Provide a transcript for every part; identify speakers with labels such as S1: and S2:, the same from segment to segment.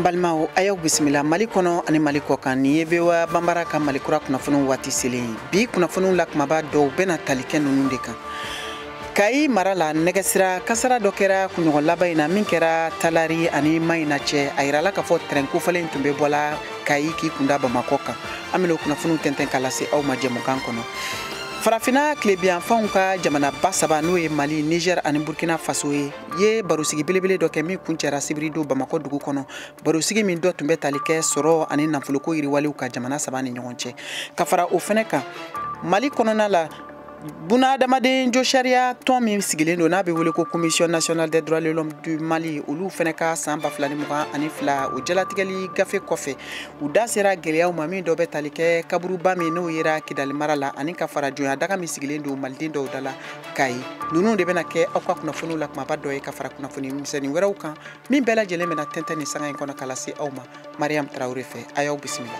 S1: balimaw a y'aw bisimila mali kɔnɔ ani mali kɔkan nin ye voa banbara ka mali kura kunnafoniw waati selen ye bi kunnafoniw la kumaba dɔw bɛna tali kɛ ninnu de kan kayi mara la nɛgɛsira kasara dɔ kɛra kunɲɔgɔn laban in na min kɛra talari ani mayina cɛ a yirala k'a fɔ trɛn kofɔlen tun bɛ bɔla kayi k'i kunda bamakɔ kan an bɛna o kunnafoniw tɛntɛn ka lase aw ma jɛmukan kɔnɔ farafina tilebiyanfanw ka jamanaba saba n'o ye mali niger ani burkina faso ye ye barosigi belebele dɔ kɛ min kuncɛra sibiridon bamakɔ dugu kɔnɔ barosigi min dɔ tun bɛ tali kɛ sɔrɔ ani nafoloko yiriwaliw kan jamana saba ni ɲɔgɔn cɛ ka fara o fɛnɛ kan mali kɔnɔna la bunadamaden josariya tɔn min sigilen don n'a bɛ wele ko commission nationale des droits de l'homme du mali olu fɛnɛ ka san ba fila ni mugan ani fila o jalatigɛli gafe kɔfɛ u da sera gwɛlɛyaw ma min dɔ bɛ tali kɛ kaburuba min n'o yera kidali mara la ani ka fara jɔnya daga min sigilen don maliden dɔw da la kayi ninnu de bɛna kɛ aw ka kunnafoniw la kumaba dɔ ye ka fara kunnafoni misɛnnin wɛrɛw kan min bɛɛ lajɛlen bɛna tɛntɛn nin sanga in kɔnɔ ka lase aw ma mariam tarawele fɛ a y'aw bisimila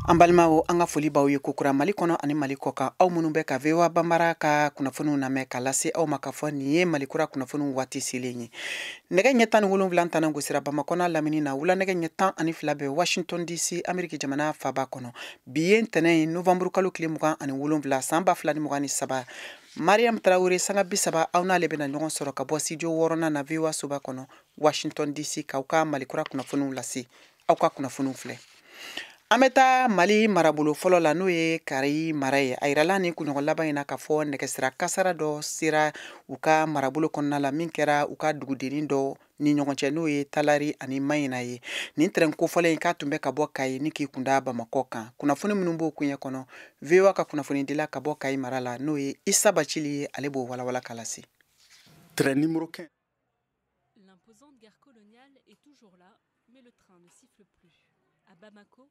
S1: an balimaw an ka foli b'aw ye kokura mali kɔnɔ ani mali kɔkan aw minnu bɛ ka voa banbara ka kunnafoniw lamɛn ka lase aw ma k'a fɔ nin ye mali kura kunnafoniw waati selen ye nɛgɛ ɲɛ tan ni wolonfila tannan gosira bamakɔ n'a lamini na wula nɛgɛ ɲɛ tan ani fila bɛ washington dc ameriki jamana faaba kɔnɔ bi ye ntɛnɛn ye novanburu kalo tile mugan ani wolonfila san ba fila ni mugan ni saba mariam tarawele sanga bi saba aw n'ale bɛna ɲɔgɔn sɔrɔ ka bɔ studio wɔɔrɔnan na voa soba kɔnɔ washington dc k'aw ka mali kura kunnafoniw lase aw ka kunnafoniw filɛ an bɛ taa mali marabolo fɔlɔ la n'o ye kayi mara ye a yirala nin kunɲɔgɔn laban in na k'a fɔ nɛgɛsira kasara dɔ sera u ka marabolo kɔnɔna la min kɛra u ka dugudennin dɔ ni ɲɔgɔn cɛ n'o ye talari ani mayina ye nin trɛn kofɔlen in k'a tun bɛ ka bɔ kayi ni k'i kunda bamakɔ kan kunnafoni minnu b'o kuɲɛ kɔnɔ voa ka kunnafonidila ka bɔ kayi mara la n'o ye isa bacili ye ale b'o walawala ka lase
S2: Train numéro
S3: 15 L'imposante gare coloniale est toujours là, mais le train ne siffle plus. À Bamako,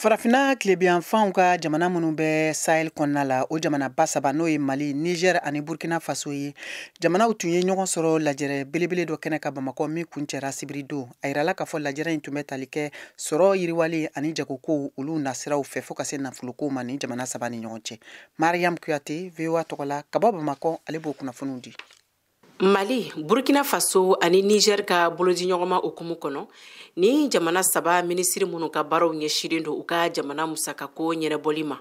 S1: Farafinna tilebiyanfanw ka jamana minnu bɛ sahel kɔnɔna la o jamanaba saba n'o ye mali niger ani burkina faso ye jamanaw tun ye ɲɔgɔn sɔrɔ lajɛrɛ belebele dɔ kɛnɛ kan bamakɔ min kuncɛra sibiridon a yirala k'a fɔ lajɛrɛ in tun bɛ tali kɛ sɔrɔ yiriwali ani jagokow olu nasiraw fɛ fo ka se nafolokow ma nin jamana saba ni ɲɔgɔn cɛ mariam kuyate voa tɔgɔ la ka bɔ bamakɔ ale b'o kunnafoniw di
S4: mali burkina faso ani niger ka bolodiɲɔgɔnma hukumu kɔnɔ nin jamana saba minisiri minnu ka baaraw ɲɛsilen don u ka jamana musakako ɲɛnabɔli ma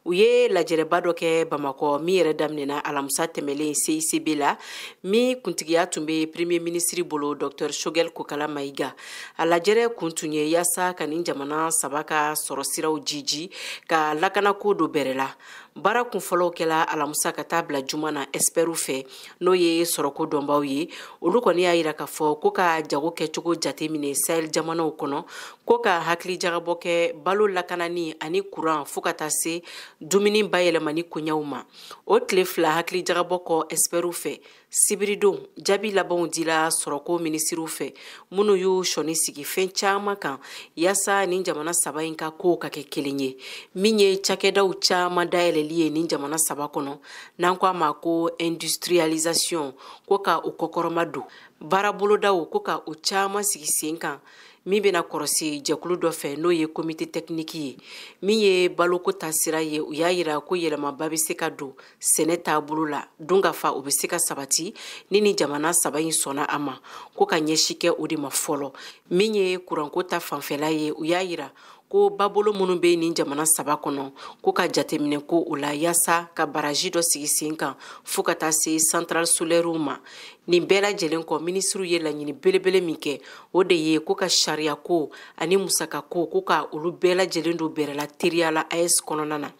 S4: u ye lajɛrɛba dɔ kɛ bamakɔ min yɛrɛ daminɛna alamusa tɛmɛlen cicb la min kuntigiya tun bɛ premier minisiri bolo dr shogɛl kokala mayiga a lajɛrɛ kun tun ye yaasa ka nin jamana saba ka sɔrɔ siraw jiji ka lakanako don bɛrɛ la baara kunfɔlɔw kɛla alamusa ka taa bila juma na ɛsipɛriw fɛ n'o ye sɔrɔko dɔnbaw ye olu kɔni y'a yira k'a fɔ ko ka jago kɛcogo jateminɛ sahel jamanaw kɔnɔ ko ka hakilijagabɔ kɛ balo lakanani ani kuran fɔɔ ka taa se dumuni bayɛlɛmani koɲɛw ma o tile fila hakilijagabɔ kɔ ɛsipɛriw fɛ sibiridon jaabi labanw dila sɔrɔko minisiriw fɛ minnu y'u sɔnni sigi fɛn caman kan yaasa nin jamana saba in ka kow ka kɛ kelen ye min ye cakɛdaw caman dayɛlɛli ye nin jamana saba kɔnɔ n'an ko a ma ko industrialisation ko ka o kɔkɔrɔmadon baarabolodaw ko ka o caman sigi sen kan min bɛna kɔrɔsi jɛkulu dɔ fɛ n'o ye komite tɛkiniki ye min ye baloko ta sira ye u y'a yira ko yɛlɛmaba bɛ se ka don sɛnɛ taabolo la dunkafa o bɛ se ka sabati ni nin jamana saba in sɔnna a ma ko ka ɲɛsi kɛ o de ma fɔlɔ min ye kuranko ta fanfɛla ye u y'a yira ko babolo minnu bɛ nin jamana saba kɔnɔ ko ka jateminɛ k'o la yaasa ka baraji dɔ sigi sen kan fo ka taa se centrale solaire ma nin bɛɛ lajɛlen kɔ minisiriw ye laɲini belebele min kɛ o de ye ko ka sariyako ani musakako ko ka olu bɛɛ lajɛlen don bɛrɛ la teriya la aes kɔnɔna na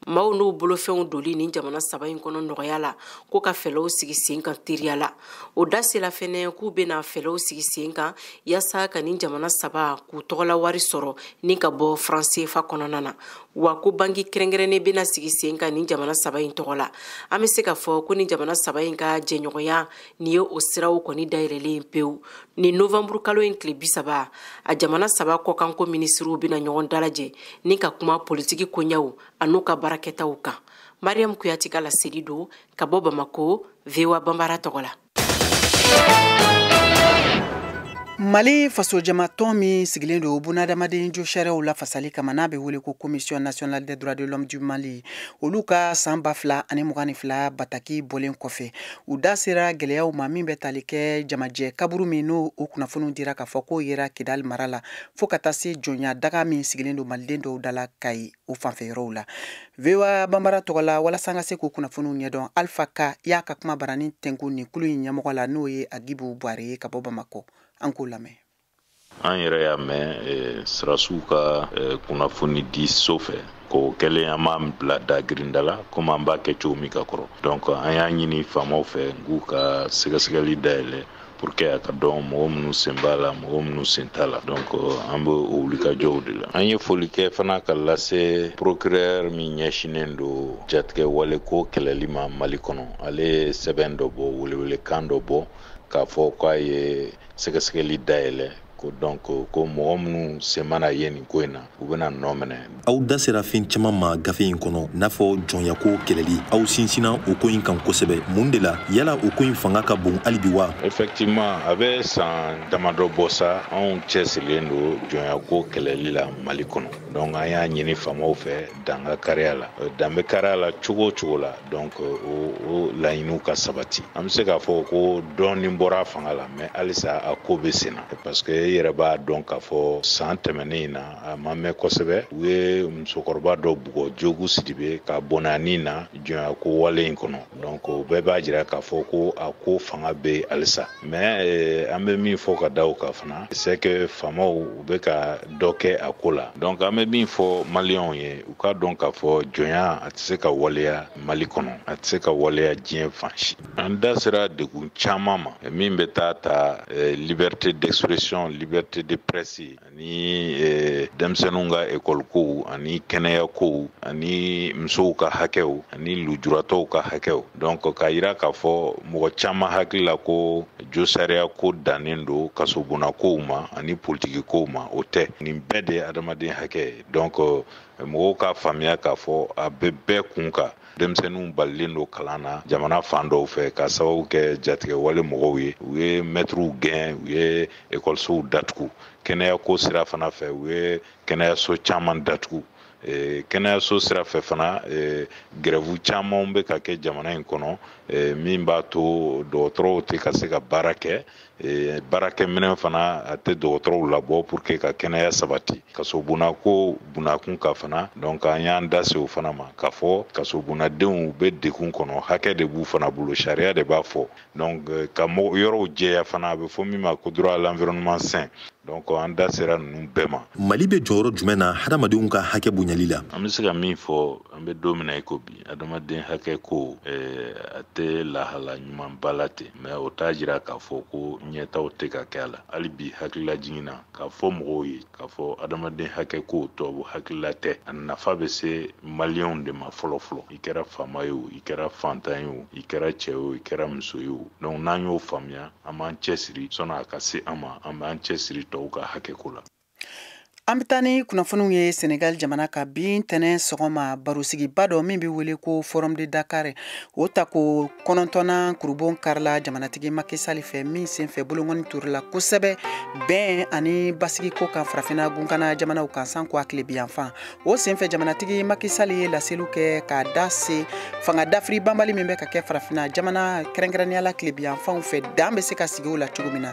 S4: maaw n'u bolofɛnw doli nin jamana saba in kɔnɔ nɔgɔya la ko ka fɛlɛw sigi sen kan teriya la u da sela fɛnɛ k'u bena fɛlɛw sigi sen kan yaasa ka nin jamana saba k'u tɔgɔla wari sɔrɔ ni ka bɔ faransefa kɔnɔna na wa ko banki kɛrɛnkɛrɛnnen bena sigi sen kan nin jamana saba in tɔgɔ la an be se ka fɔ ko nin jamana saba in ka jɛɲɔgɔnya nin ye o siraw kɔni dayɛlɛlen pewu nin novanburu kalo in tile bisaba a jamana saba kɔkanko minisiriw bɛna ɲɔgɔn dalajɛ ni ka kuma politiki koɲɛw an'u ka baarakɛtaw kan mariyamu kuyate ka laseli don ka bɔ bamako voa banbara tɔgɔ la
S1: mali fasojamatɔn min sigilen don bunadamaden josariyaw lafasali kama n'a bɛ wele ko commission nationale des droits de l'homme du mali olu ka saan ba fila ani mugan ni fila bataki bɔlen kɔfɛ u da sera gɛlɛyaw ma min bɛ tali kɛ jamajɛ kaburu min n'o kunnafoniw dira k'a fɔ k'o yera kidali mara la fɔɔ ka taa se jɔnya daga min sigilen don maliden dɔw da la kayi o fanfɛ yɔrɔw la voa banbara tɔgɔ la walasa an ka se k'o kunnafoniw ɲɛdɔn alfa ka y'a ka kumabaranin tɛnkun nin kulu in ɲɛmɔgɔ la n'o ye agibu bware ye ka bɔ bamakɔ an k'o lamɛn an
S5: yɛrɛ y'a mɛn eh, sɔrɔdasiw ka eh, kunnafoni di so fɛ ko kɛlen an b'an bila da girinda la komi an b'a kɛ cogo min ka kɔrɔ donc an y'a ɲini faamaw fɛ n k'u ka sɛgɛsɛgɛli dayɛlɛ pour que a ka dɔn mɔgɔ minnu sen b'a la mɔgɔ minnu sen t'a la donc euh, an bɛ o wulikajɔw de la an ye foli kɛ fana ka lase procureur min ɲɛsinnen don jatigɛwale ko kɛlɛli ma mali kɔnɔ ale ye sɛbɛn dɔ bɔ welewelekan dɔ bɔ k'a fɔ k'a ye sɛgɛsɛgɛli dayɛlɛ ko donc ko mɔgɔ minnu sen mana ye nin ko in na u bɛna nɔminɛ aw da sera fɛn
S6: caman ma gafe in kɔnɔ n'a fɔ jɔnyako kɛlɛli aw sinsinna o ko in kan kosɛbɛ mun de la yala o ko in fanga ka bon hali bi wa effectivement a
S5: bɛ san damadɔ bɔ sa anw cɛsirilen don jɔnyako kɛlɛli la mali kɔnɔ donc an y'a ɲini faamaw fɛ dan ka kari a la euh, dan bɛ kari a la cogo o cogo la donc euh, o o laɲiniw ka sabati an bɛ se k'a fɔ ko dɔɔnin bɔra a fanga la mais halisa a ko bɛ sen na parce que i yɛrɛ b'a dɔn k'a fɔ san tɛmɛnen in na a ma mɛn kosɛbɛ u ye musokɔrɔba dɔ bugɔ jogu sidibe ka bɔnɛ a ni na jɔnya ko wale in kɔnɔ donc o bɛɛ b'a jira k'a fɔ ko a ko fanga bɛ halisa mais eh, an bɛ min fɔ ka da o kan fana c'est que faamaw u bɛ ka dɔ kɛ a ko la donc an bɛ min fɔ maliyɛnw ye u k'a dɔn k'a fɔ jɔnya a tɛ se ka waleya mali kɔnɔ a tɛ se ka waleya diɲɛ fan si an da sera degun caman ma min bɛ taa ta eh, liberté d'expression liberté de presse ani eh, denmisɛnninw ka ekɔli kow ani kɛnɛya kow ani musow ka hakɛw ani lujuratɔw ka hakɛw donc k'a yira k'a fɔ mɔgɔ caman hakili la ko josariya ko dannen don kasobonna kow ma ani politiki kow ma o tɛ nin bɛɛ de ye adamaden hakɛ ye donc eh, mɔgɔw k'a faamuya k'a fɔ a bɛ bɛɛ kun kan denmisɛnninw balilen don kalan na jamana fan dɔw fɛ ka sababu kɛ jatigɛwale mɔgɔw ye u ye mɛtiriw gɛn u ye ekɔlisow datugu kɛnɛyako sira fana fɛ u ye kɛnɛyaso caman datugu Eh, kɛnɛyaso sira fɛ fana eh, gɛrɛvu camanw bɛ ka kɛ jamana in kɔnɔ eh, min b'a to dɔgɔtɔrɔw tɛ ka se ka baara kɛ Eh, baarakɛminɛn fana a tɛ dɔgɔtɔrɔw labɔ pour que ka kɛnɛya sabati kasobonna ko bunakun ka fana donc an y'an da se o fana ma k'a fɔ kasobonnadenw bɛ degun kɔnɔ hakɛ de b'u fana bolo sariya de b'a fɔ donc eh, ka mɔgɔ yɔrɔw jɛya fana a bɛ fɔ min ma ko droit à l'environnement sain donc an da sera ninnu bɛɛ ma mali bɛ jɔyɔrɔ jumɛn na hadamadenw ka hakɛ bonyali la an bɛ se ka min fɔ an bɛ don min na i ko bi adamaden hakɛ ko eh, a tɛ lahala ɲumanba la ten mais o t'a jira k'a fɔ ko ɲɛtaw tɛ ka kɛ a la hali bi hakililajigin na k'a fɔ mɔgɔw ye k'a fɔ adamaden hakɛ ko tubabu hakilila tɛ a nafa bɛ se maliyɛnw de ma fɔlɔ fɔlɔ i kɛra faama ye o i kɛra fantan ye o i kɛra cɛ ye o i kɛra muso ye o donc n'an y'o faamuya an b'an cɛsiri sɔnni a ka se an ma an b'an cɛsiri tɔw ka hakɛ ko la An
S1: bɛ taa ni kunnafoniw ye Senegal jamana kan bi ntɛnɛn sɔgɔma barosigiba dɔ min bɛ wele ko Forum de Dakar o tako kɔnɔntɔnnan kurunbonkarila jamanatigi Macky Sall fɛ min senfɛ bolonkɔni turula kosɛbɛ bɛn ani basigi ko kan farafinna gunkana jamanaw kan sanko a tilebinyanfan o senfɛ jamanatigi Macky Sall ye laseliw kɛ k'a da se fanga dafiri banbali min bɛ ka kɛ farafinna jamana kɛrɛnkɛrɛnnenya la tilebinyanfanw fɛ dan bɛ se ka sigi o la cogo min na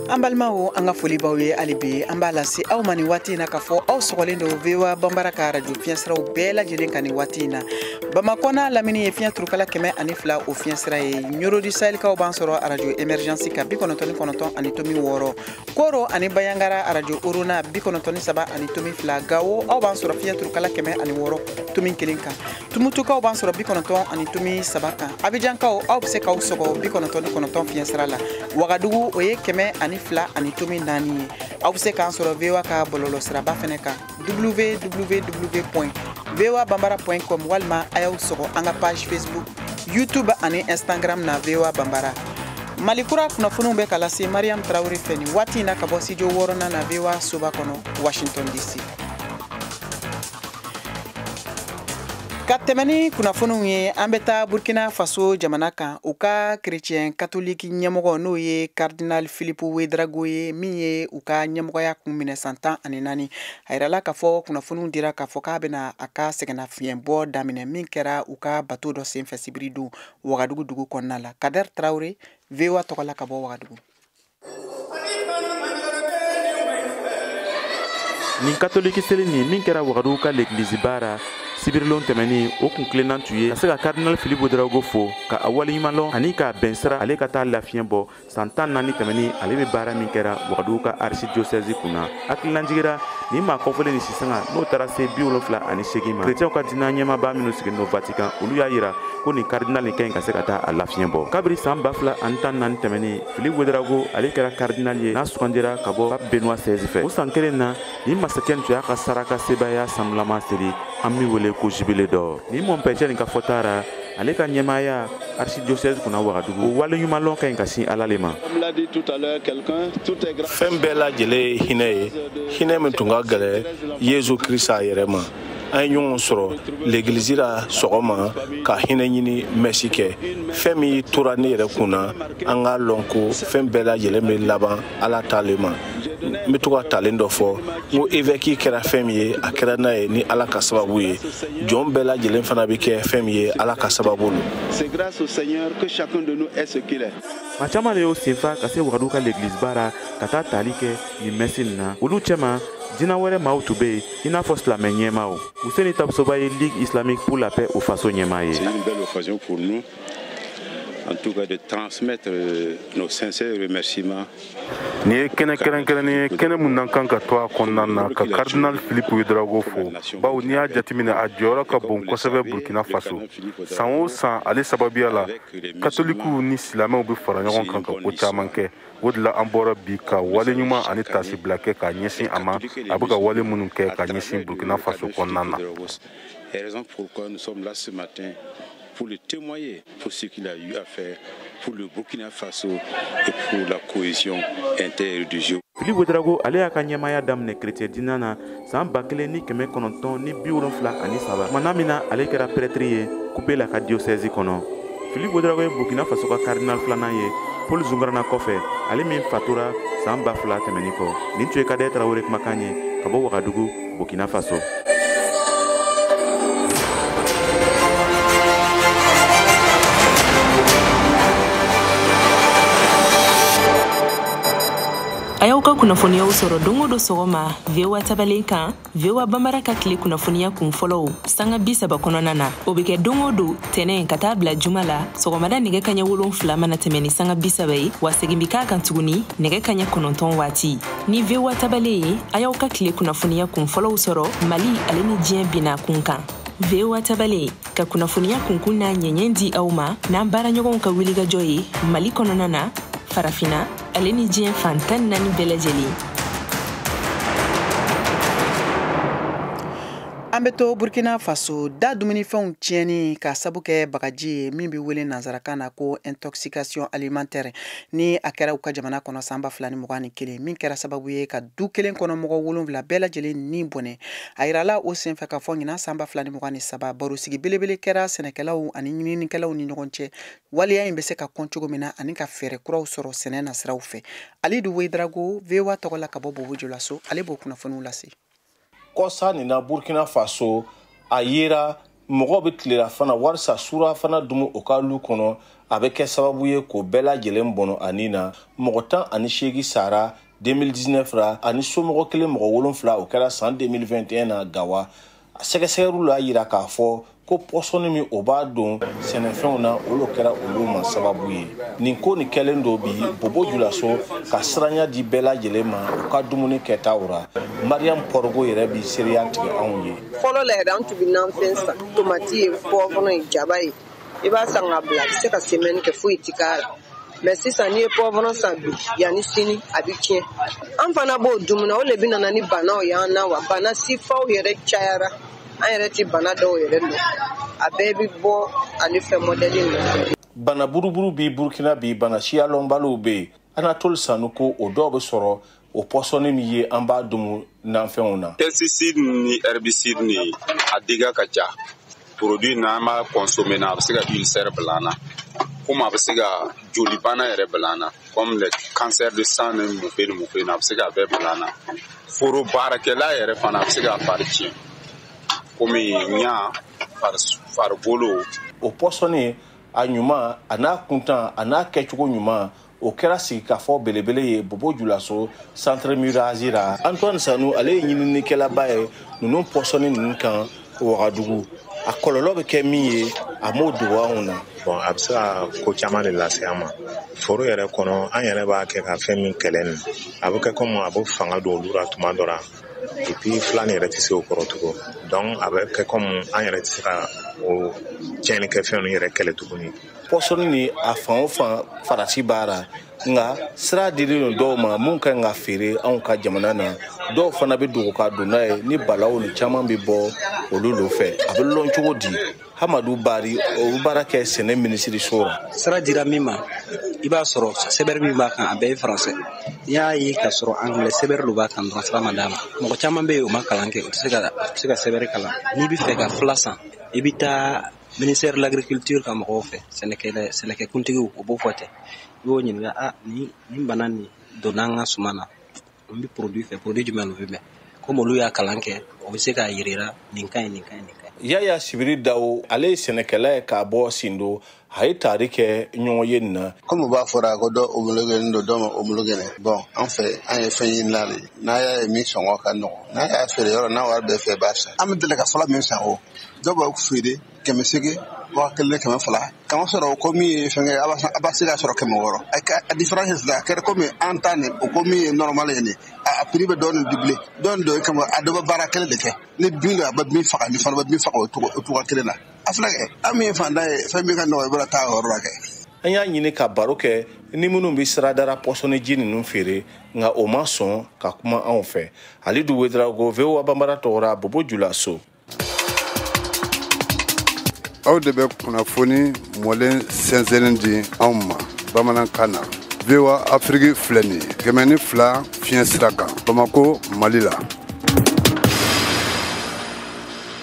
S1: an balimaw an ka foli b'aw ye hali bi an b'a lase aw ma nin waati in na k'a fɔ aw sɔgɔlen don voa banbara ka arajo fiɲɛsiraw bɛɛ lajɛlen kan nin waati in na bamakɔ n'a lamini ye fiɲɛ turukala kɛmɛ ani fila o fiɲɛsira ye ɲɔrɔ du sahɛlikaw b'an sɔrɔ arajo emergensi kan bi kɔnɔntɔn ni kɔnɔntɔn ani tomi wɔɔrɔ koro ani banjagara arajo orona bi kɔnɔntɔn ni saba ani tomi fila gawo aw b'an sɔrɔ fiɲɛ turukala kɛmɛ ani wɔɔrɔ tomi kelen kan tumutukaw b'an sɔrɔ bi kɔnɔntɔn ani tomi saba kan abijankaw aw bɛ se k'aw sɔgɔ bi kɔnɔntɔn ni kɔnɔntɔn fiɲɛ sira la wagadugu o ye kɛmɛ ani fila ani tomi naani ye aw bɛ se k'an sɔrɔ voa ka bɔlɔlɔ siraba fɛnɛ kan www point voa banbara point com walima a y'aw sɔgɔ an ka page facebook youtube ani instagram na voa banbara mali kura kunnafoniw bɛ ka lase mariam traoré fɛ nin waati in na ka bɔ studio wɔɔrɔnan na voa soba kɔnɔ washington dc ka tɛmɛ ni kunnafoniw ye an bɛ taa burkina faso jamana kan u ka kerecɛn katoliki ɲɛmɔgɔ n'o ye karidinal filipu wedrago ye min ye u ka ɲɛmɔgɔya kun minɛ san tan ani naani a yirala k'a fɔ kunnafoniw dira k'a fɔ k'a bɛna a ka sɛgɛnnafiɲɛbɔ daminɛ min kɛra u ka bato dɔ senfɛ sibiri don wagadugu dugu kɔnɔna la kader traoré voa tɔgɔ la ka bɔ wagadugu
S7: nin katoliki seli nin min kɛra wagadugu ka legiliziba ra sibirilon tɛmɛnin o kuntilenna tun ye ka se ka karidinal filipu wedrago fo ka a waleɲuman lɔn ani k'a bɛn sira ale ka taa lafiɲɛ bɔ san tan ni naani tɛmɛnin ale bɛ baara min kɛra wagadugu ka arisidiosɛzi kunna hakililajigi ra nin maa kɔfɔlen nin si sanga n'o taara se bi wolonfila ani seegin ma kerecɛnw ka diinɛ ɲɛmaaba minnu sigilen don vatikan olu y'a yira ko nin karidinal nin ka ɲi ka se ka taa a lafiɲɛ bɔ kabiri saan ba fila ani tan ni naani tɛmɛnin Filipu Wedrago ale kɛra karidinali ye n'a sugandira ka bɔ Pape Benoît XVI fɛ. O san kelen na, nin masacɛ nin tun y'a ka saraka sebaaya sanulama seli an bɛ min wele ko jubilé d'or. Nin mɔnpɛcɛ nin ka fɔta ra, ale ka ɲɛmaaya archidiocèse kunna Wagadugu, o waleɲumanlɔn ka ɲi ka sin Ala le
S8: ma. Fɛn bɛɛ lajɛlen ye hinɛ ye, hinɛ min tun ka gɛlɛn Yesu Krista yɛrɛ ma. an ye ɲɔgɔn sɔrɔ legilizi la sɔgɔma ka hinɛ ɲini mɛsi kɛ fɛn min tora ne yɛrɛ kun na an k'a lɔn ko fɛn bɛɛ lajɛlen bɛ laban ala ta le ma n bɛ to ka talen dɔ fɔ n ko evɛki kɛra fɛn min ye a kɛra n'a ye ni ala ka sababu ye jɔn bɛɛ lajɛlen fana bɛ kɛ fɛn min ye ala ka sababu
S2: lo maa caman de y'o
S7: sen fa ka se wagadu ka legiliziba ra ka taa tali kɛ nin mɛsi nin na olu cɛma diinɛ wɛrɛ maaw tun bɛ yen i n'a fɔ silamɛ ɲɛmaaw ousséni tapsoba ye ligue islamique pour la paix au faso ɲɛmaa ye
S2: en tout cas de transmettre euh, nos sincères remerciements. Nin ye
S8: kɛnɛ kɛrɛnkɛrɛnnen ye kɛnɛ min an kan ka to a kɔnɔna na ka cardinal philippe ouedraogo fo bawo n'i y'a jateminɛ a jɔyɔrɔ ka bon kosɛbɛ burkina faso san o san ale sababuya la katolikiw ni silamɛw bɛ fara ɲɔgɔn kan ka ko caman kɛ o de la an bɔra bi ka wale ɲuman ani tasibila kɛ ka ɲɛsin a ma a bɛ ka wale minnu kɛ ka ɲɛsin burkina faso kɔnɔna na
S2: pour le témoigner pour ce qu'il a eu à faire pour le Burkina Faso et pour la cohésion interreligieuse. Philippe
S7: Ouedraogo ale y'a ka ɲɛmaaya daminɛ chrétien diinɛ na saan ba kelen ni kɛmɛ kɔnɔntɔn ni bi wolonfila ani saba tumana min na ale kɛra pɛrɛtiri ye koupéla ka diyosɛzi kɔnɔ philippe ouedraogo ye burkina faso ka karidinal filanan ye paul zoungrana kɔfɛ ale min fatura saan ba fila tɛmɛni kɔ nin tun ye kader tarawele kumakan ye ka bɔ wagadugu burkina faso
S9: a y'aw ka kunnafoniyaw sɔrɔ don o don sɔgɔma voa tabalen kan voa banbara ka tile kunnafoniya kun fɔlɔw sanga bi saba kɔnɔna na o be kɛ don o don tɛnɛ ka taa bila juma la sɔgɔmada nɛgɛ kaɲɛ wolon fila mana tɛmɛ ni sanga bi saba ye wa segin bi k'a kan tuguni nɛgɛ kaɲɛ kɔnɔntɔn waati ni voa tabalen ye a y'aw ka tile kunnafoniya kun fɔlɔw sɔrɔ mali ale ni diɲɛ bina kun kan voa tabalen ka kunnafoniya kunkun n'a ɲɛɲɛ di aw ma n'an baaraɲɔgɔnw ka wilikajɔ ye mali kɔnɔna na farafina ale ni diɲɛ fan tan ni naani bɛɛ
S1: lajɛlen an bɛ to burkina faso da dumunifɛnw tiɲɛni k'a sabu kɛ bagaji ye min bɛ wele nansarakan na ko intoxication alimentaire ni a kɛra u ka jamana kɔnɔ san ba fila ni mugan ni kelen min kɛra sababu ye ka du kelen kɔnɔ mɔgɔ wolonfila bɛɛ lajɛlen ni bɔnɛ a yirala o senfɛ k'a fɔ ɲinan san ba fila ni mugan ni saba barosigi belebele kɛra sɛnɛkɛlaw ani ɲininikɛlaw ni ɲɔgɔn cɛ waleya in bɛ se ka kɔn cogo min na ani ka fɛɛrɛ kuraw sɔrɔ sɛnɛ nasiraw fɛ alidu ouedraogo voa tɔgɔ la ka bɔ bobo julaso ale b'o kunnafoniw lase kɔsa
S8: nin na burkina faso a yera mɔgɔw bɛ tilelafana walisa surafana dumu o ka lu kɔnɔ a bɛ kɛ sababu ye k'o bɛɛ lajɛlen bɔnɔ a ni na mɔgɔ tan ani seegi sara 2019 ra ani somɔgɔ kelen mɔgɔ wolonfila o kɛra san 2021 na gawa a sɛgɛsɛgɛliw l'a yira k'a fɔ ko pɔsɔni min o b'a don sɛnɛfɛnw na o lo kɛra olu ma sababu ye nin ko nin kɛlen don bi bobo julaso ka siranya di bɛɛ lajɛlen ma u ka dumuni kɛtaw ra mariyamu pɔrɔgo yɛrɛ bi seereya tigɛ anw ye fɔlɔ la yɛrɛ an tun bɛ
S10: nanfɛn san tomati ye pɔwɔrɔn ye jaba ye i b'a san ka bila a bɛ se ka semɛni kɛ foyi ti k'a la mɛ sisan n'i ye pɔwɔrɔn san bi yanni sini a bɛ tiɲɛ an fana b'o dumu na o le bɛ nana ni banaw y'an na wa bana sifaw yɛrɛ cayara an yɛrɛ ti bana dɔw yɛrɛ lɔn a bɛɛ bɛ bɔ ale fɛn mɔdɛli ninnu bana buruburu
S8: bi burukina bi bana siyalɔnbaliw bɛ yen anatole sanu ko o dɔw bɛ sɔrɔ o pɔsɔni min ye an b'a dumu nanfɛnw na pesticide
S11: ni herbicide ni a diga ka ca produit n'an b'a consommer na a bɛ se ka ulcère bila an na komi a bɛ se ka joli bana yɛrɛ bila an na comme le cancer de sang ni mufe ni mufe na a bɛ se ka bɛɛ bila an na foro baarakɛla yɛrɛ fana a bɛ se ka fari tiɲɛ komi ɲa farigolo o
S8: pɔsɔni a ɲuman an'a kuntan an'a kɛcogo ɲuman o kɛra sigikafɔ belebele ye bobo julaso centre murazi ra antoine sanu ale ye ɲininikɛlaba ye ninnu pɔsɔni ninnu kan wagadugu a kɔlɔlɔ bɛ kɛ min ye a m'o dogo anw na bɔn a bɛ se ka
S5: ko caman le lase an ma foro yɛrɛ kɔnɔ an yɛrɛ b'a kɛ ka fɛn min kɛlɛ nin a bɛ kɛ komi a bɛ fanga don olu ra tuma dɔ ra epi fila nin yɛrɛ tɛ se o kɔrɔ tugun dɔnku a bɛ kɛ komi an yɛrɛ tɛ se ka o tiɲɛnikɛfɛn ninnu yɛrɛ kɛlɛ tuguni pɔsɔni nin
S8: a fan o fan farati b'a ra nka sira dilen don dɔw ma minw kan ka feere anw ka jamana na dɔw fana bɛ dogo ka don n'a ye nin balawu nin caman bɛ bɔ olu lo fɛ a bɛ lɔn cogo di hamadu bari o bɛ baara kɛ sɛnɛ minisiriso ra sira dira min
S12: ma i b'a sɔrɔ sɛbɛri min b'a kan a bɛɛ ye faransɛ n'i y'a ye k'a sɔrɔ angilɛ sɛbɛri lo b'a kan dɔrɔn sira ma d'a ma mɔgɔ caman bɛ yen o ma kalan kɛ o tɛ se ka sɛbɛri kalan n'i bɛ fɛ ka fila san i bɛ taa ministère de l'agriculture ka mɔgɔw fɛ sɛnɛkɛkuntigiw o b'o fɔ ten i b'o ɲininka nin bana nin donna an ka suma na n bɛ porodi fɛ porodi jumɛn no bɛ bɛn komi olu y'a kalan kɛ o bɛ se k'a yirira nin ka ɲi nin ka ɲi nin ka ɲi yaya sibiri
S8: dawo ale ye sɛnɛkɛla ye k'a bɔ sindo a ye taari kɛ ɲɔgɔn ye nin na komi o b'a fɔra ko
S13: dɔ omologenin don dɔ ma omologe bɔn an fɛ an ye fɛn ɲinina de n'a y'a ye min sɔngɔ ka nɔgɔ n'a y'a feere yɔrɔ n'a wari b'i fɛ i b'a san an bɛ deli ka fɔlɔ min san o dɔw b'a feere kɛmɛ seegin waa kelen kɛmɛ fila k'a masɔrɔ o ko min ye fɛnkɛ a b'a a b'a se k'a sɔrɔ kɛmɛ wɔɔrɔ a ka a diferansi sisan a kɛra komi an ta nin o ko min ye nɔrɔmali ye nin a a piri bɛ dɔɔnin duble dɔɔnin dɔ ye kama a dɔ bɛ baara kelen de kɛ ni bin don a bɛ bin faga nin fana bɛ bin faga o cogo o cogoya kelen na a filɛ kɛ an min ye fantan ye fɛn min ka nɔgɔ i bɛna taa o yɔrɔ la kɛ an y'a ɲini
S8: ka baro kɛ ni minnu bɛ sirada ra pɔsɔniji ninnu feere nka o ma sɔn ka kuma anw fɛ halidu wederawogo voa banbara tɔgɔ ra bobo julaso
S14: aw de bɛ kunnafoni mɔlen sɛnsɛnnen di anw ma bamanankan na voa afiriki filɛ nin ye kɛmɛ ni fila fiɲɛ sira kan bamako mali la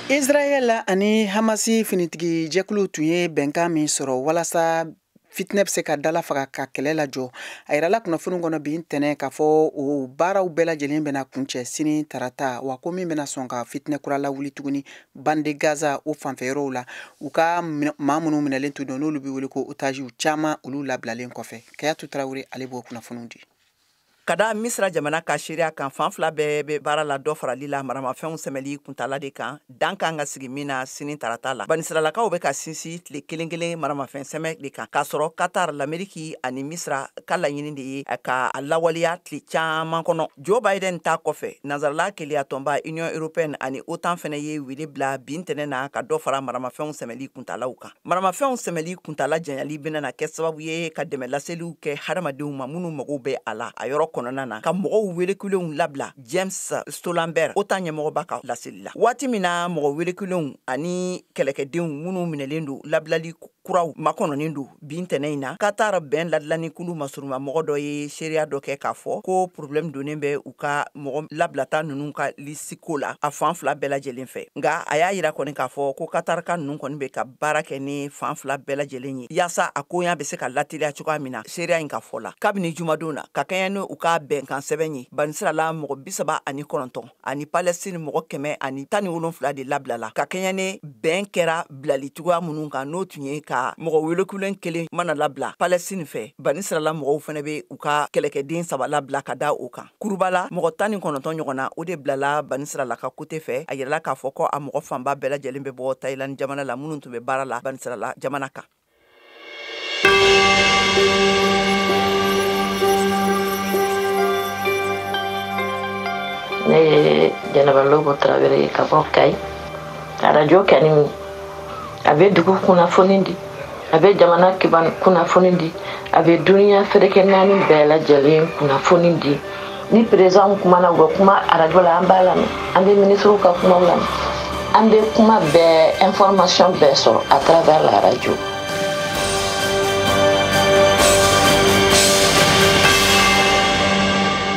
S1: israɛl ani hamasi finitigi jɛkulu tun ye bɛnkan min sɔrɔ walasa fitinɛ bɛ se ka dala faga ka kɛlɛ lajɔ a yirala kunnafoni kɔnɔ bi ntɛnɛn k'a fɔ o baaraw bɛɛ lajɛlen bɛna kuncɛ sini tarata wa ko min bɛna sɔn ka fitinɛ kura lawuli tuguni bande gaza o fanfɛ yɔrɔw la u ka maa minnu minɛlen tun don n'olu bɛ wele ko otaziw caman olu labilalen kɔfɛ kayatu tarawele ale b'o kunnafoniw di ka da
S15: misira jamana ka seereya kan fan fila bɛɛ bɛ baara la dɔ farali la maramafɛnw sɛmɛli kuntala de kan dan kan ka sigi min na sini tarata la banisiralakaw bɛ ka sinsin tile kelen kelen maramafɛn sɛmɛ de kan k'a sɔrɔ katar lameriki ani misira ka laɲini de ye ka a lawaleya tile caman kɔnɔ joe biden ta kɔfɛ nansarala kelenyatɔnba union européenne ani otan fɛnɛ ye wele bila bi ntɛnɛn na ka dɔ fara maramafɛnw sɛmɛli kuntalaw kan maramafɛnw sɛmɛli kuntala janyali bɛna na kɛ sababu ye ka dɛmɛ laseliw kɛ hadamadenw ma minnu mago bɛ a la a yɔrɔ kɔnɔna na ka mɔgɔw welekulenw labila james stoltenberg otan ɲɛmɔgɔba ka laseli la waati min na mɔgɔ welekulenw ani kɛlɛkɛdenw minnu minɛlen don labilali kuraw makɔnɔnen don bi ntɛnɛn in na katar bɛn ladilani kulu masuruma mɔgɔ dɔ ye seereya dɔ kɛ k'a fɔ ko problɛmu donnen bɛ u ka mɔgɔ labilata ninnu ka lisi si ko la a fan fila bɛɛ lajɛlen fɛ nka a y'a yira kɔni k'a fɔ ko katarika ninnu kɔni bɛ ka baara kɛ ni fan fila bɛɛ lajɛlen ye yaasa a koɲa bɛ se ka lateliya cogoya min na seereya in ka fɔ la kabini jumadon na ka kɛɲɛ ni u ka bɛnkan sɛbɛn ye banisirala mɔgɔ bisaba ani kɔnɔntɔn ani palɛsini mɔgɔ kɛmɛ ani tan ni wolonfila de labilala ka kɛɲɛ ni bɛn kɛra bilali cogoya minnu kan n'o tun ye ka mɔgɔ welekulen kelen mana labila palɛsini fɛ banisirala mɔgɔw fɛnɛ bɛ u ka kɛlɛkɛden saba labila ka da o kan kurubala mɔgɔ tan ni kɔnɔntɔn ɲɔgɔn na o de bilala banisirala ka kote fɛ a yirala k'a fɔ ko a mɔgɔ fanba bɛɛ lajɛlen bɛ bɔ tayilandi jamana la minnu tun bɛ baara la banisirala jamana kan
S16: ne ye jɛnɛba lobo tarawele ye ka bɔ kayi arajo kɛni a bɛ dugu kunnafoni di a bɛ jamana kiban kunnafoni di a bɛ duniya ferekɛ naani bɛɛ lajɛlen kunnafoni di ni perezidan kumana u bɛ kuma arajo la an b'a lamɛn an bɛ minisiriw ka kumaw lamɛn an bɛ kuma bɛɛ ɛnfɔrɔmasiyɔn bɛɛ sɔrɔ à travers la
S1: radio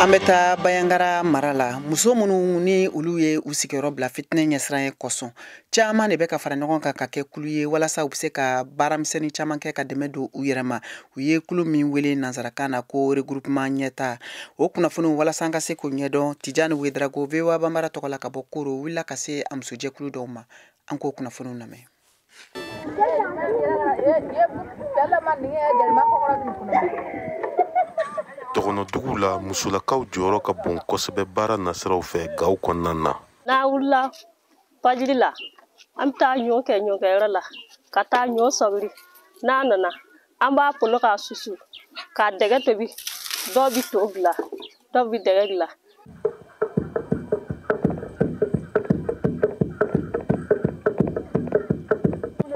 S1: an bɛ taa banjagara mara la muso minnu ni olu ye u sigiyɔrɔ bila fitinɛ ɲɛsiranɲɛ kosɔn caman de bɛ ka fara ɲɔgɔn kan ka kɛ kulu ye walasa u bɛ se ka baaramisɛnnin caman kɛ ka dɛmɛ don u yɛrɛ ma u ye kulu min wele nansarakan na ko regroupement ɲɛta o kunnafoniw walasa an ka se k'o ɲɛdɔn tijani wedarago voa banbara tɔgɔ la ka bɔ koro wulila ka se a musojɛkulu dɔw ma an k'o kunnafoniw
S6: lamɛn dɔgɔnɔdugu la musolakaw jɔyɔrɔ ka bon kosɛbɛ baara nasiraw
S17: fɛ
S6: gaw kɔnɔna na n'a wulila
S17: fajiri la an bɛ taa ɲɔ kɛ ɲɔkɛyɔrɔ la ka taa ɲɔ sɔgiri n'a nana an b'a polo k'a susu k'a dɛgɛ tobi dɔw bɛ to dilan dɔw bɛ dɛgɛ dilan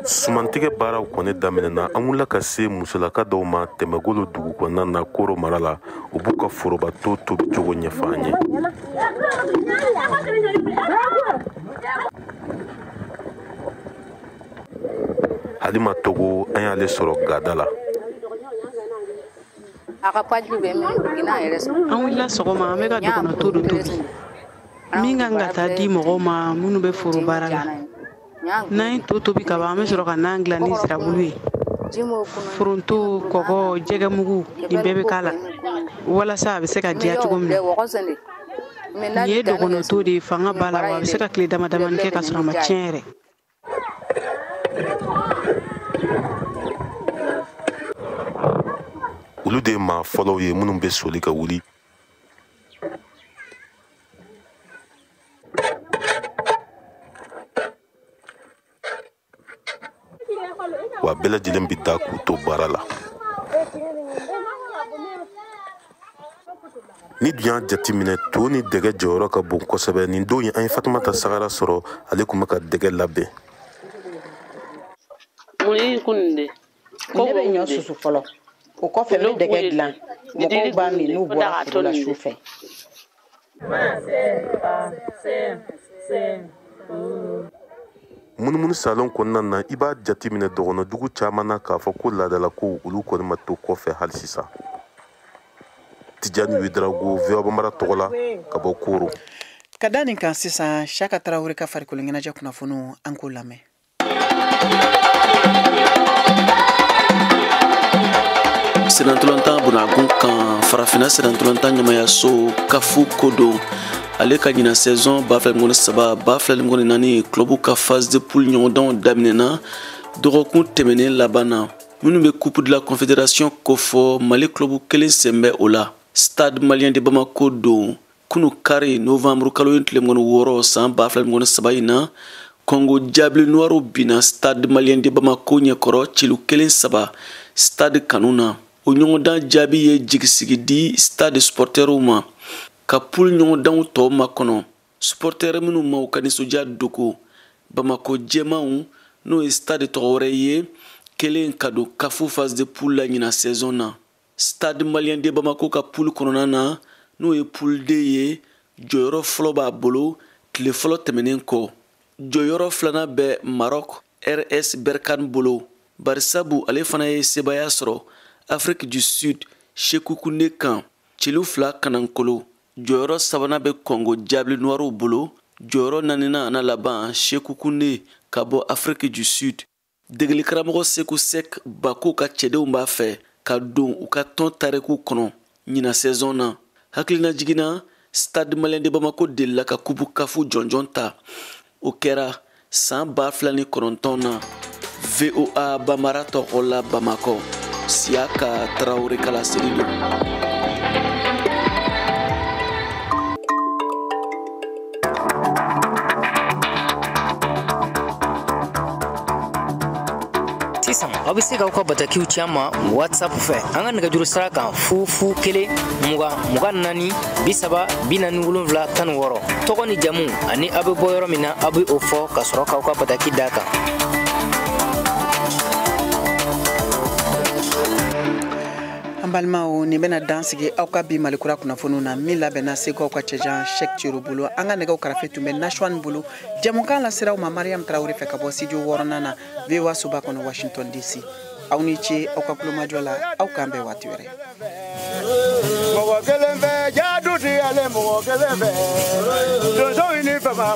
S6: sumantigɛ baaraw kɔni daminɛna an wulila ka se musolaka dɔw ma tɛmɛgolo dugu kɔnɔna na koro mara la u b'u ka foroba to tobi cogo ɲɛfɔ an ye halima togo an y'ale sɔrɔ gada la
S18: an wulila sɔgɔma an bɛ ka dɔgɔnɔto dɔ tobi min kan ka taa di mɔgɔw ma minnu bɛ foro baara la n'an ye to tobi ka ban an bɛ sɔrɔ ka nan dilan ni sirabulu ye foronto kɔgɔ jɛgɛmugu nin bɛɛ bɛ k'a la walasa a bɛ se ka diya cogo min na nin ye dɔgɔnɔto de ye fanga b'a la wa a bɛ se ka tile dama damani kɛ ka sɔrɔ a ma tiɲɛ yɛrɛ
S6: olu de ye maa fɔlɔw ye minnu bɛ soli ka wuli wa bɛɛ lajɛlen bɛ da k'u to baara la n'i dun y'a jateminɛ to ni dɛgɛ jɔyɔrɔ ka bon kosɛbɛ nin don ye an ye fatumata sagara sɔrɔ ale tun bɛ ka dɛgɛ
S18: labɛn ne bɛ ɲɔ susu fɔlɔ o kɔfɛ n bɛ dɛgɛ dilan mɔgɔw b'a min n'u bɔra foro la su fɛ
S6: munumunu salon kɔnɔna na i b'a jateminɛ dɔgɔnɔdugu caman na k'a fɔ ko laadalakow olu kɔni ma to kɔfɛ hali sisan tijani wedarago voa banbara tɔgɔ la ka bɔ koro ka da nin
S1: kan sisan siaka tarawele ka farikolo ɲɛnajɛ kunnafoniw an k'o lamɛn
S19: senantolantan bonagun kan farafinna senantolantan ɲɛmaayaso caf ko don ale ka ɲina saison ba fila ni mugan ni saba ba fila ni mugan ni naani club ka phase de poule ɲɔgɔndanw daminɛna dɔgɔkun tɛmɛnen laban na minnu bɛ coupe de la confédération kofɔ mali club kelen sen bɛ o la stade malien de bamako don kunu kari novanburu kalo in tile mugan ni wɔɔrɔ san ba fila mugan ni saba in na kɔngo diable noirw binna stade malien de bamako ɲɛkɔrɔ celu kelen saba stade kanu na o ɲɔgɔndan jaabi ye jigisigi di stade supɔrtɛriw ma ka poule ɲɔgɔndanw tɔw makɔnɔ supɔrtɛri minnu ma u ka nisɔndiya dogo bamako jɛmanw n'o ye stade tɔgɔ wɛrɛ ye kɛlen ka don kafu phase de poule la ɲina saison na stade malien de bamako ka poule kɔnɔna na n'o ye poule d ye jɔyɔrɔ fɔlɔ b'a bolo tile fɔlɔ tɛmɛnen kɔ jɔyɔrɔ filanan bɛ maroc rs berkane bolo barisabu ale fana ye sebaaya sɔrɔ afrique du sud sekhukhune kan celu fila kanankolo jɔyɔrɔ sabanan bɛ kɔngo diable noirw bolo jɔyɔrɔ naaninan an'a laban sekhukhune ka bɔ afrique du sud degeli karamɔgɔ seku sɛk bako ka cɛdenw b'a fɛ ka don u ka tɔn tariku kɔnɔ ɲina sɛzɔn na hakilinajigin na stade malien de bamako delila ka kupu kafu jɔnjɔn ta o kɛra san ba fila ni kɔnɔntɔn na voa bamara tɔgɔ la bamakɔ siyaka tarawore ka laseli don
S20: sisan aw bɛ se k'aw ka batakiw ci an ma whatsapp fɛ an ka nɛgɛjuru sira kan fu fu kelen mugan mugan naani bi saba bi naani wolonwula tan ni wɔɔrɔ tɔgɔ ni jamu ani aw bɛ bɔ yɔrɔ min na aw bɛ o fɔ ka sɔrɔ k'aw ka bataki d'a kan
S1: an balimaw nin bɛna dan sigi aw ka bi malikura kunnafoniw na min labɛnna segu aw ka cɛjan shek ciro bolo an ka nɛgɛw karafe tun bɛ nasuwan bolo jɛmukan lasera aw ma mariam tarawele fɛ ka bɔ studio wɔɔrɔnan na voa soba kɔnɔ washington dc aw ni ce aw ka kulomajɔ la aw k'an bɛn waati
S21: wɛrɛ mɔgɔ kelen fɛ ja du ti ale mɔgɔ kelen fɛ donsow ni fama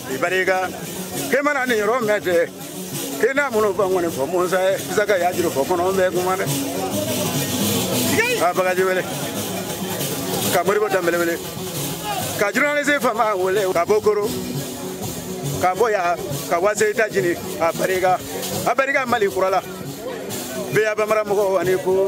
S21: i barika k'i mana nin yɔrɔ mɛn tɛ ke n'a minnu fɔ kɔni fɔ musa ye bisa ka y'a juru fɔ kɔnɔ bɛɛ kuma dɛ a bagaji wele ka modibo danbele wele ka journaliste fama wele ka bɔ koro ka bɔ ya ka wase ta jini a barika a barika mali kura la voa bamara mɔgɔw ani ko